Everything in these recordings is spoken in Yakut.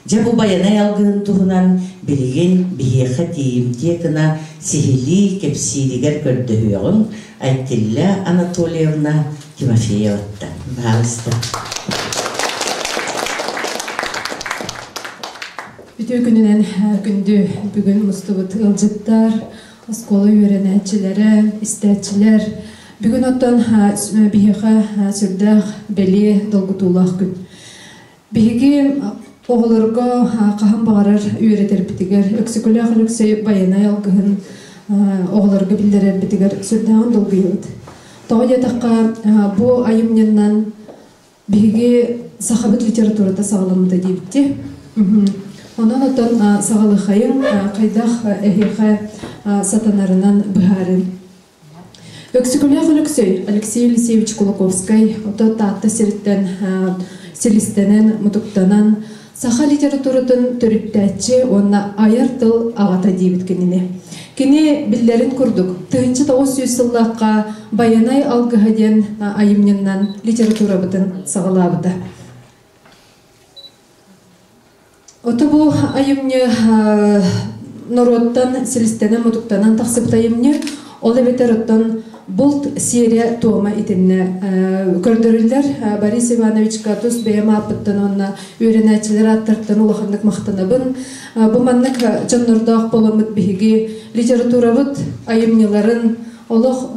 Дьэ бу байанай алгыһын туһунан билигин биһиэхэ тиийимтиэ гына сиһилии кэпсииригэр көрдөһүөҕүҥ, Айтилля Анатольевна Тимофееваттан. Баҕаалыста. Бүтүү күнүнэн күндү бүгүн мустубут ыалдьыттар, оскуола үөрэнээччилэрэ, истээччилэр. Бүгүн оттон биһиэхэ сүрдээх бэлиэ долгутуулаах күн. Биһиги оҕолорго хаһан баҕарар үөрэтэрбитигэр Өксөкүлээх Алексей байанай алгыһын оҕолорго биллэрэрбитигэр сүрдээҕин долгуйабыт. Тоҕо диэтэххэ, бу айымньынан биһиги сахабыт литературата саҕаламмыта диэбитти. Онон отон саҕалыхайын хайдах эһиэхэ сатанарынан быһаарыын. Өксөкүлээх Өлөксөй, Алексей Алексеевич Кулаковскай, оттон Таатта сириттэн силистэнэн, мутуктанан саха литературатын төрүттээччи уонна айар тыл аҕата диэбит кинини. Кини биллэрин курдук, тыһынча тоҕус сүүс сыллаахха Байанай алгыһа диэн айымньыннан литературабытын саҕалаабыта. Оту бу айымньы норуоттан силистэнэн-мутуктанан тахсыбыт айымньы, ол эбэтэр оттон булт серия туома итиннэ көрдөрүллэр. Борис Ивановичка тус бэйэм ааппыттан уонна үөрэнээччилэр ааттартан улаханнык махтанабын. Бу маннык дьоннордоох боломмут биһиги литературабыт айымньыларын олох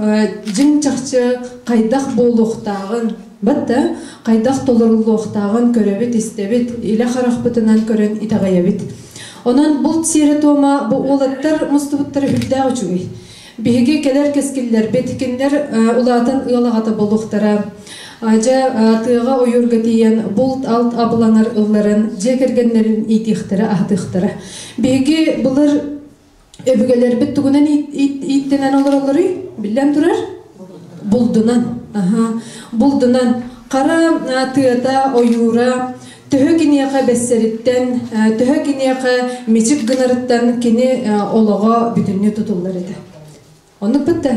дьиҥ чахчы хайдах буолуохтааҕын Бата, хайдах толоруллуохтааҕын көрөбүт-истэбит, илэ харахпытынан көрөн итэҕэйэбит. Онон булт сиэрэ-туома бу уолаттар мустубуттара үрдээх үчүгэй. Биһиги кэлэр кэскиллэрбит кинилэр улаатан ыал аҕата буолуохтара. Дьэ, тыаҕа ойуурга тиийэн булт алт абылаҥар ылларан дьиэ кэргэннэрин иитиэхтэрэ, аһатыахтара. Биһиги былыр Өбүгэлэрбит тугунан ииттэнэн олороллоруй? Биллэн турар, булдунан. Булдунан. Хара тыата, ойуура, төһө киниэхэ бэссэриттэн, төһө киниэхэ мичик гынарыттан кини олоҕо бүтүннүү тутуллар этэ. Оннук бытты.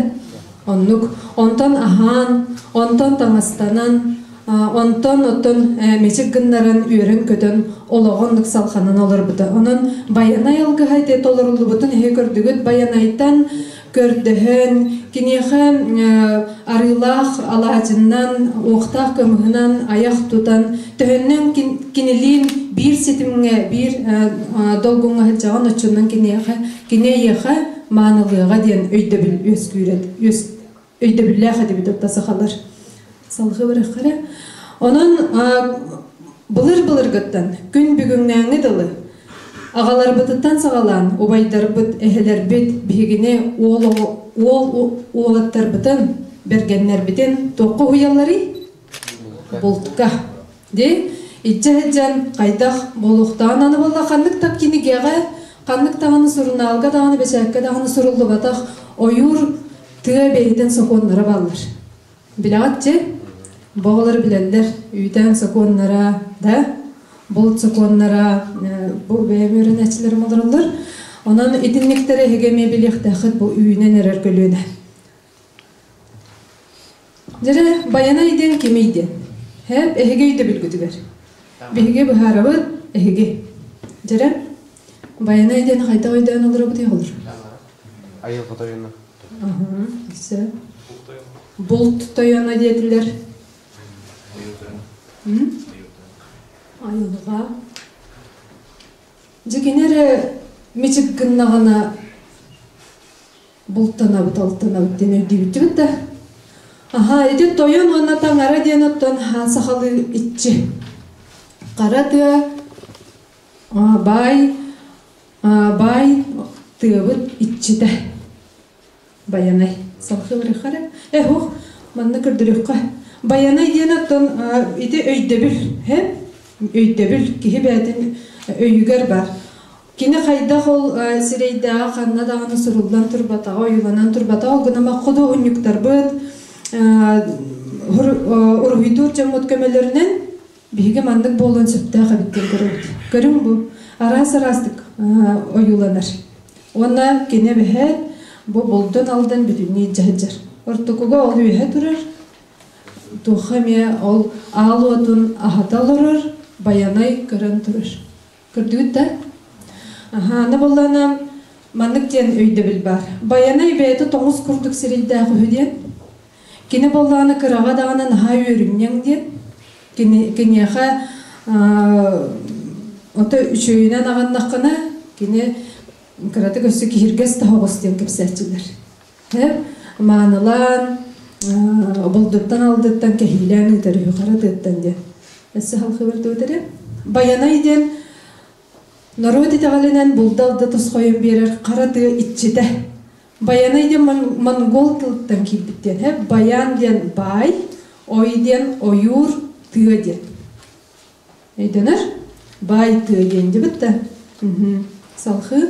Оннук. Онтон аһаан, онтон таҥастанан, онтон оттон мичик гыннаран үөрэн-көтөн олоҕун ыннык салханан олорбута. Онон Байанай алгыһа ити толоруллубутун эһи көрдүгүт. Байанайтан көрдөһөн, киниэхэ арыылаах алаадьынан, уохтаах кымыһынан айах тутан, төһөннөн кинилиин биир ситимҥэ, биир долгуҥҥа сылдьаҕын, оччонон киниэхэ Кини эйиэхэ маанылыаҕа диэн өйдөбүл үөскүүрэн үөс өйдөбүллээх этибит отто сахалар салҕа быраххара онон былыр былыргыттан күн бүгүҥнээҥҥи дылы аҕаларбытыттан саҕалаан убайдарбыт эһэлэрбит биһигини уол уолаттарбытын бэргэннэрбитин туохха уһуйалларый бултка ди иччэ сыдьан хайдах болуохтаан аны болла ханнык тап кинигеҕэ ханнык даҕаны сурунаалга даҕаны бэчээккэ даҕаны суруллубатах ойуур тыа бэйэтин сокуоннара баллар билэҕитчи боҕолор билэллэр үүтээн сокуоннара да булт сокуоннара бу бэйэм үөрэнээччилэрим олороллор онон итинниктэрэ эһиги эмиэ билиэхтээххит бу үүнэн эрэр көлүөнэ Дьэ, Байанай диэн кимий диэн. Һээп эһиги өйдөбүлгүтүгэр. Биһиги быһаарабыт эһиги. Дьэрэ, Байанай диэн хайдах өйдөөн олоробут болар? Айылҕа тойоно. Аһа, сөп. Булт тойоно диэтилэр. Айылҕа. Дьикинер мичик гыннаҕына бултанабыт алтанабыт диэн өйдүүбүттүбүт да аха ити тойон уонна таҥара диэн оттон сахалыы иччи хара тыа баай баай тыабыт иччитэ баянай салхылырыхара эһох манна көрдөрүххэ баянай диэн оттон ити өйдөбүл өйдөбүл киһи бээтин өйүгэр бар Кини хайдах ол сирэйдээҕи ханна даҕаны суруллан турбатаҕа, ойууланан турбатаҕа, ол гынан худуоһунньуктарбыт, уруһуйдуур дьоммут көмөлөрүнэн биһиги маннык буолуон сөптөөх эбит диэн көрөбүт. Көрүҥ бу араас-араастык ойууланар. Уонна кини эбэһээт бу булдун алдан бүтүннүү дьаһдьар. Ортокуга ол үөһэ турар. Туохха эмиэ ол аал уотун аһата олорор, байанай көрөн турар. Көрдүгүт да? Аһаана буоллаана маннык диэн өйдөбүл баар. Байанай бэйэтэ тоҥус курдук сирийдээх үһү диэн. Кини буоллаана кыраҕа даҕаны наһаа үөрүмньэҥ диэн. Кини киниэхэ ото үчүөйүнэн аҕыннаххына кини кыратык өссө киһиргэс таһоҕос диэн кэпсээччилэр. маанылаан обалдыттан алдыттан кэһиилээн ыытар үһү хара тыаттан диэн өссө халхыбыр түөтэрэ Байанай диэн норуот итэҕэлинэн булда алда тосхойун биэрэр хара тыы иччитэ Байанай диэн монгол тылыттан киирбит диэн һэ баян диэн бай ой диэн ойуур тыа диэн өйдөнөр бай тыа диэн дебит да салхыы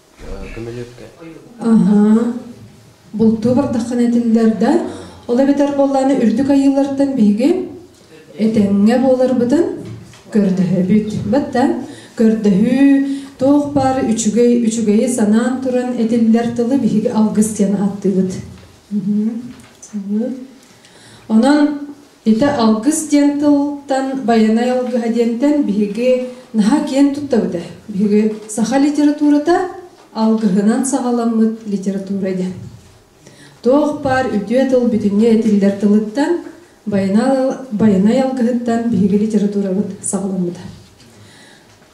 Бултуу бардаххына этиллэр да, ол эбэтэр буоллааны үрдүк айыылартан биһиги этэҥҥэ буоларбытын көрдөһөбүт. Баттан көрдөһүү туох баар үчүгэй үчүгэйи санаан туран этиллэр тылы биһиги алгыс диэн ааттыыбыт. Онон Ити алгыс диэн тылтан байанай алгыһа диэнтэн биһиги наһаа киэн туттабыта. Биһиги саха литературата алгыһынан саҕаламмыт литература диэн. Туох баар үтүө тыл бүтүннүү этиллэр тылыттан, байанай алгыһыттан биһиги литературабыт саҕаламмыта.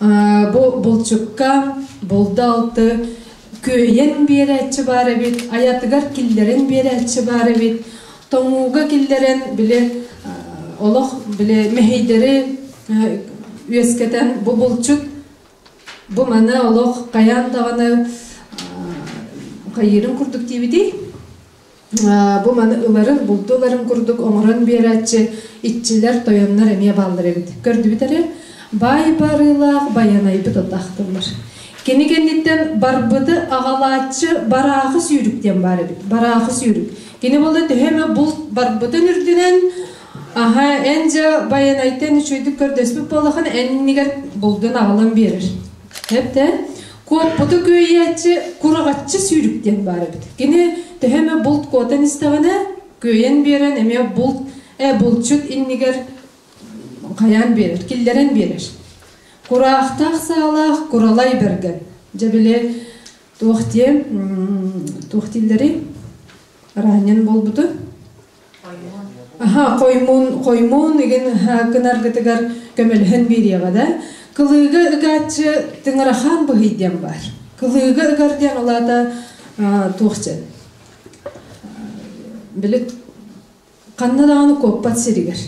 Бу булчукка булда алты күөйэн биэрээччи баар эбит, аятыгар киллэрин биэрээччи баар эбит. Тоҥууга киллэрэн били олох били мэһэйдэри үөскэтэн бу булчут бу маны олох хайаан даҕаны хайыырын курдук диибитий? Бу маны ыларын, булду ыларын курдук оҥорон биэрээччи иччилэр, тойоннор эмиэ бааллар эбит. Көрдүбүт эрэ, баай барыылаах Байанайбыт атахтыллар. Кини кэнниттэн барбыты аҕалааччы бараахы сүүрүк диэн баар эбит. Бараахы сүүрүк. Кини буолла төһө эмэ булт барбытын үрдүнэн аһа эн дьэ Байанайтан үчүгэйдик көрдөспүт буоллахан эннигэр булдун аҕалан биэрэр. Эрдэ куотпуту күөйээччи кураҕаччы сүүрүк диэн баар эбит. Кини төһө эмэ булт куотан истэҕинэ, күөйэн биэрэн эмиэ булт, э, булчут иннигэр хайаан биэрэр, киллэрэн биэрэр. Кураахтаах саалаах куралай бэргэн. Дьэ били туох диэ, туох дииллэри араанньан буолбуту хоймуун хоймуун игин кынаргытыгар көмөлөһөн биэриэҕэ да кылыыга ыгааччы тыҥырахаан быһый диэн баар кылыыга ыгар диэн улаата туох сөп били ханна даҕаны куоппат сиригэр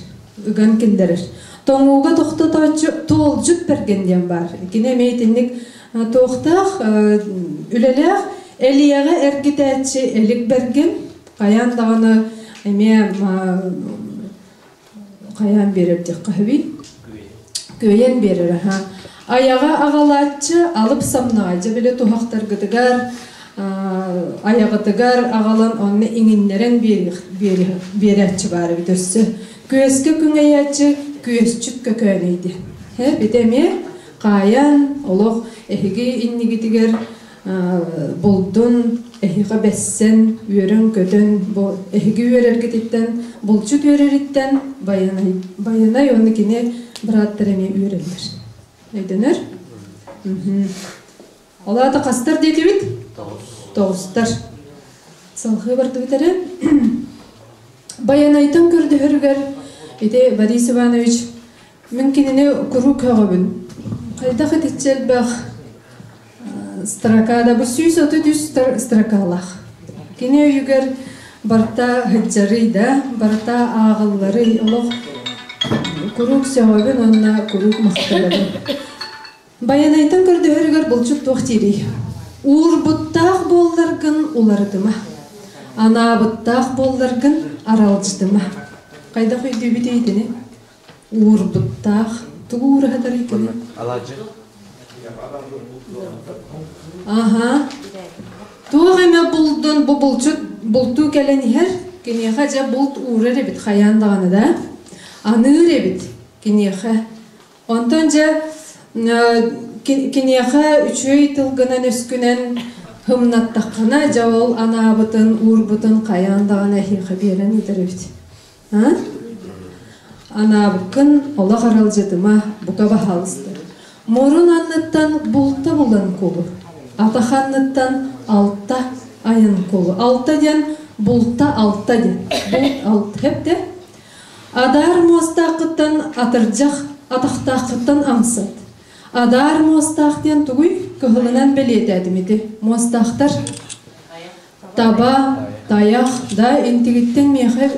ыган киллэрэр тоҥууга тохтотооччу туолдьут берген диэн баар кини эмиэ итинник туохтаах үлэлээх элиэҕэ эргитээччи элик берген Хайаан даҕаны эмиэ хайаан биэрэрдиэххэ сөбүй? Күөйэн биэрэр аха. Аяҕа аҕалааччы алып самнаайдьа билэ туһахтаргытыгар аяҕытыгар аҕалан онно иҥиннэрэн биэрээччи баар эбит өссө күөскэ күҥэйээччи күөсчүт көкөөнөйдө һэ бит эмиэ хаайан олох эһиги иннигитигэр булдун эһиэхэ бэссэн үөрэн-көтөн бу эһиги үөрэргититтэн булчут үөрэриттэн Байанай Байанай уонна кини бырааттар эмиэ үөрэллэр өйдөнөр ол аата хастар диэтибит тоҕустар салхыы бардыбыт эрэ Байанайтан көрдөһөрүгэр ити Борис Иванович Мин кинини куруук көҕөбүн. Хайдах итиччэ элбэх строкада бу сүүс отут үс строкалаах. Кини өйүгэр барта хыдьарый да, барта ааҕылларый олох куруук сөҕөбүн уонна куруук махтанабын. Байанайтан көрдөһөрүгэр булчут туох диирий? Уурбуттаах буолларгын уларытыма. Анаабыттаах буолларгын аралдьытыма. Хайдах өйдүүбүт итини? уурбуттаах тугу уураһа тарыйкыный аха туох эмэ булдун бу булчут бултуу кэлэн иһэр киниэхэ дьэ булт уурар эбит хайаан даҕаны да аныыр эбит киниэхэ онтон дьэ киниэхэ үчүой тылгынан өскүнэн хымнаттаххына дьэ ол анаабытын уурбутун хайаан даҕаны эһиэхэ биэрэн ыытар эбит Анаабыккын олох аралдьытыма, бука баһаалыстар. Мурун анныттан булта булан кулу. Атах анныттан алта айан кулу. Алта диэн булта алта диэн. Булт алта хэпте. Адар муостааххыттан атырдьах атахтааххыттан амсат. Адар муостаах диэн тугуй? Кыһылынан бэлиэтээтим ити. Муостаахтар таба тайах да интигиттен миэхэ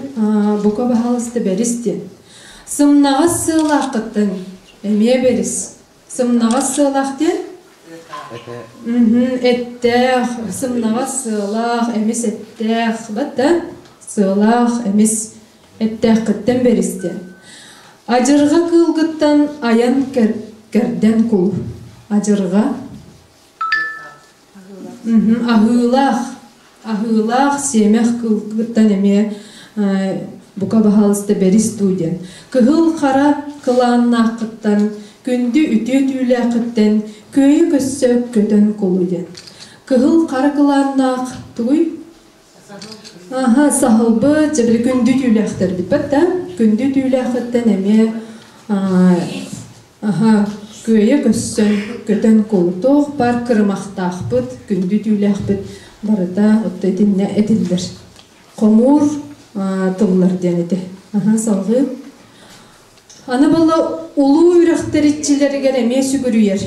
бука баһалыста бэрис диэн сымнаҕас сыалааххыттан эмиэ бэрис сымнаҕас сыалаах диэн эттээх сымнаҕас сыалаах эмис эттээх бата сыалаах эмис эттээххиттэн бэрис диэн ажырга кыылгыттан айан кэрдэн кул ажырга Аһыылаах, аһыылаах сиэмэх кылгыттан эмиэ бука баһаалыста бэрис дуу диэн. Кыһыл хара кылааннааххыттан, күндү үтүө түүлээххиттэн күөйү көссө көтөн кулу диэн. Кыһыл хара кылааннаах тугуй? Аха, саһылбыт, дьэбили күндү түүлээхтэрбитпэт да, күндү түүлээхиттэн эмиэ аха, күөйэ көссөн, көтөн култуох бар кырымахтаахпыт, күндү түүлээхпит барыта отто итиннэ этиллэр. Хомуур тыллар диэн ити. Аха, салгыы. Аны була улуу үрэхтэр иччилэригэр эмиэ сүгүрүйэр.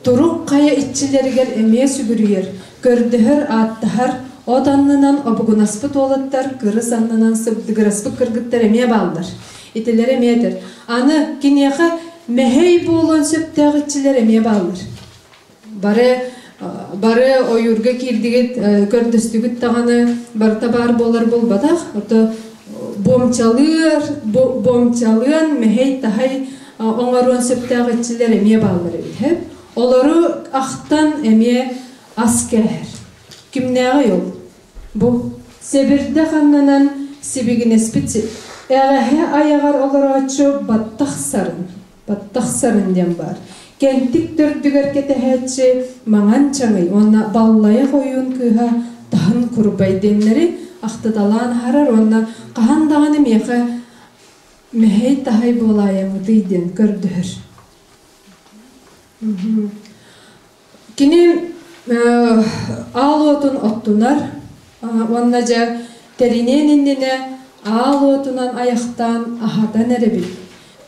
Турук хайа иччилэригэр эмиэ сүгүрүйэр, көрдөһөр, ааттаһар, от аннынан обугунаспыт уолаттар кырыс аннынан сыбдыгыраспыт кыргыттар эмиэ бааллар. Итилэр эмиэ этэр. Аны киниэхэ мэһэй буолуон сөптөөх иччилэр эмиэ бааллар. Бары бары ойуурга киирдигит, көрдөстүгүт даҕаны барыта баар буолар буолбатах. Ото бомчалыыр, бомчалыан, мэһэй-таһай оҥоруон сөптөөх иччилэр эмиэ бааллар эбит. Олору ахтан эмиэ ас кээһэр. Кимнээҕий ол? Бу Сэбирдэ ханнанан сибигинэспит эҕэһэ айаҕар олорооччу баттахсарын Тахсарын диэн баар. Кэнтик төрдүгэр кэтэһээччи Маҥан Чаҥый уонна Баллайах ойуун кыыһа Таһын Курбай диэннэри ахтыталаан аһарар уонна хаһан даҕаны миэхэ мэһэй-таһай буолаайаҥытый диэн көрдөһөр. Кини аал уотун оттунар уонна дьэ тэриниэн иннинэ аал уотунан айахтаан аһатан эрэбин,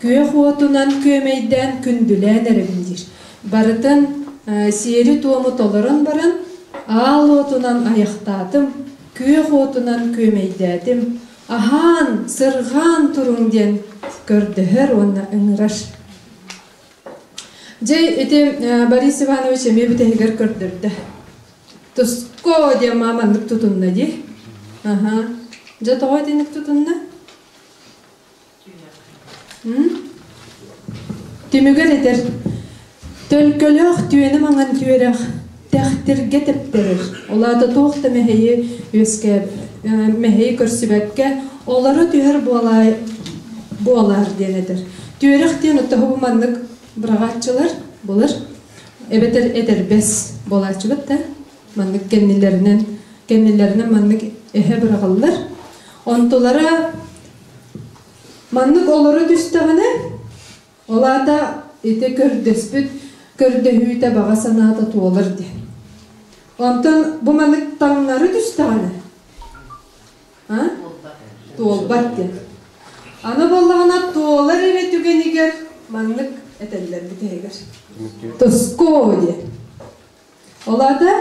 күөх уотунан күөмэйдээн күндүлээн эрэбин диир. Барытын сиэри-туому толорон баран аал уотунан айахтаатым, күөх уотунан күөмэйдээтим, аһаан, сырҕаан туруҥ диэн көрдөһөр уонна ыҥырар. Дьэ, ити Борис Иванович эмиэ бүтэһигэр көрдөрдө. Туско диэн мааманнык тутунна дии. Аха. Дьэ, тоҕо итинник тутунна? Түмүгэр этэр, Төлкөлөөх түөнү маҥан түөрэх, Тэхтиргэ тэптэрир. Ол аата туох да мэһэйи үөскээт, мэһэйи көрсүбэккэ, олоро түһэр буолаай, буолаар диэн этэр. Түөрэх диэн оттоһубу маннык быраҕааччылар булар, эбэтэр этэрбэс буолааччыбыт да маннык кэннилэринэн кэннилэринэн маннык эһэ быраҕыллар. Онтулара маннык олоро түстэҕинэ Ол аата ити көрдөспүт көрдөһүүтэ баҕа санаата туолар диэн. Онтон бу маннык таҥнары түстэҕинэ туолбат диэн. Аны буоллаҕына туолар эрэ түгэнигэр маннык этэллэр бүтэһигэр. Тоско диэн. Ол аата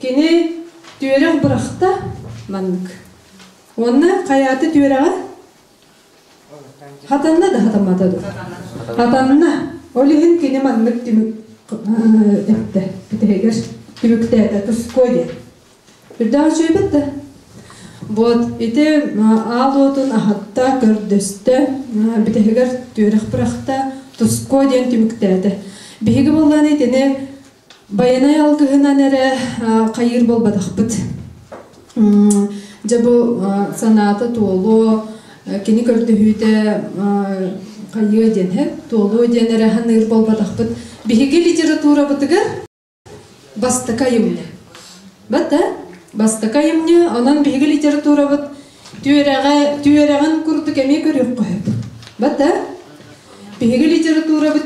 кини түөрэх бырахта маннык. Онно хайааты түөрэҕэ Хатанна да хатамата дур. Хатанна, ол иһин кини маннык түмүк эттэ. Битигэр түмүктээтэ Туско диэн. Үрдэҕэ үчүөйбэт да. Вот, ити аал уотун аһатта, көрдөстө, битигэр түөрэх бырахта, Туско диэн түмүктээтэ. Биһиги боллааны итини Байанай алгыһынан эрэ хайыыр буолбатахпыт. Дьэ бу санаата туолуо, кини көрдөһүүтэ хайыа диэн иһэр, туолуо диэн эрэ саныыр буолбатахпыт. Биһиги литературабытыгар бастакы айымньы. Бата, бастакы айымньы, онон биһиги литературабыт түөрэҕэ, түөрэҕин курдук эмиэ көрүөххэ сөп. Бата, биһиги литературабыт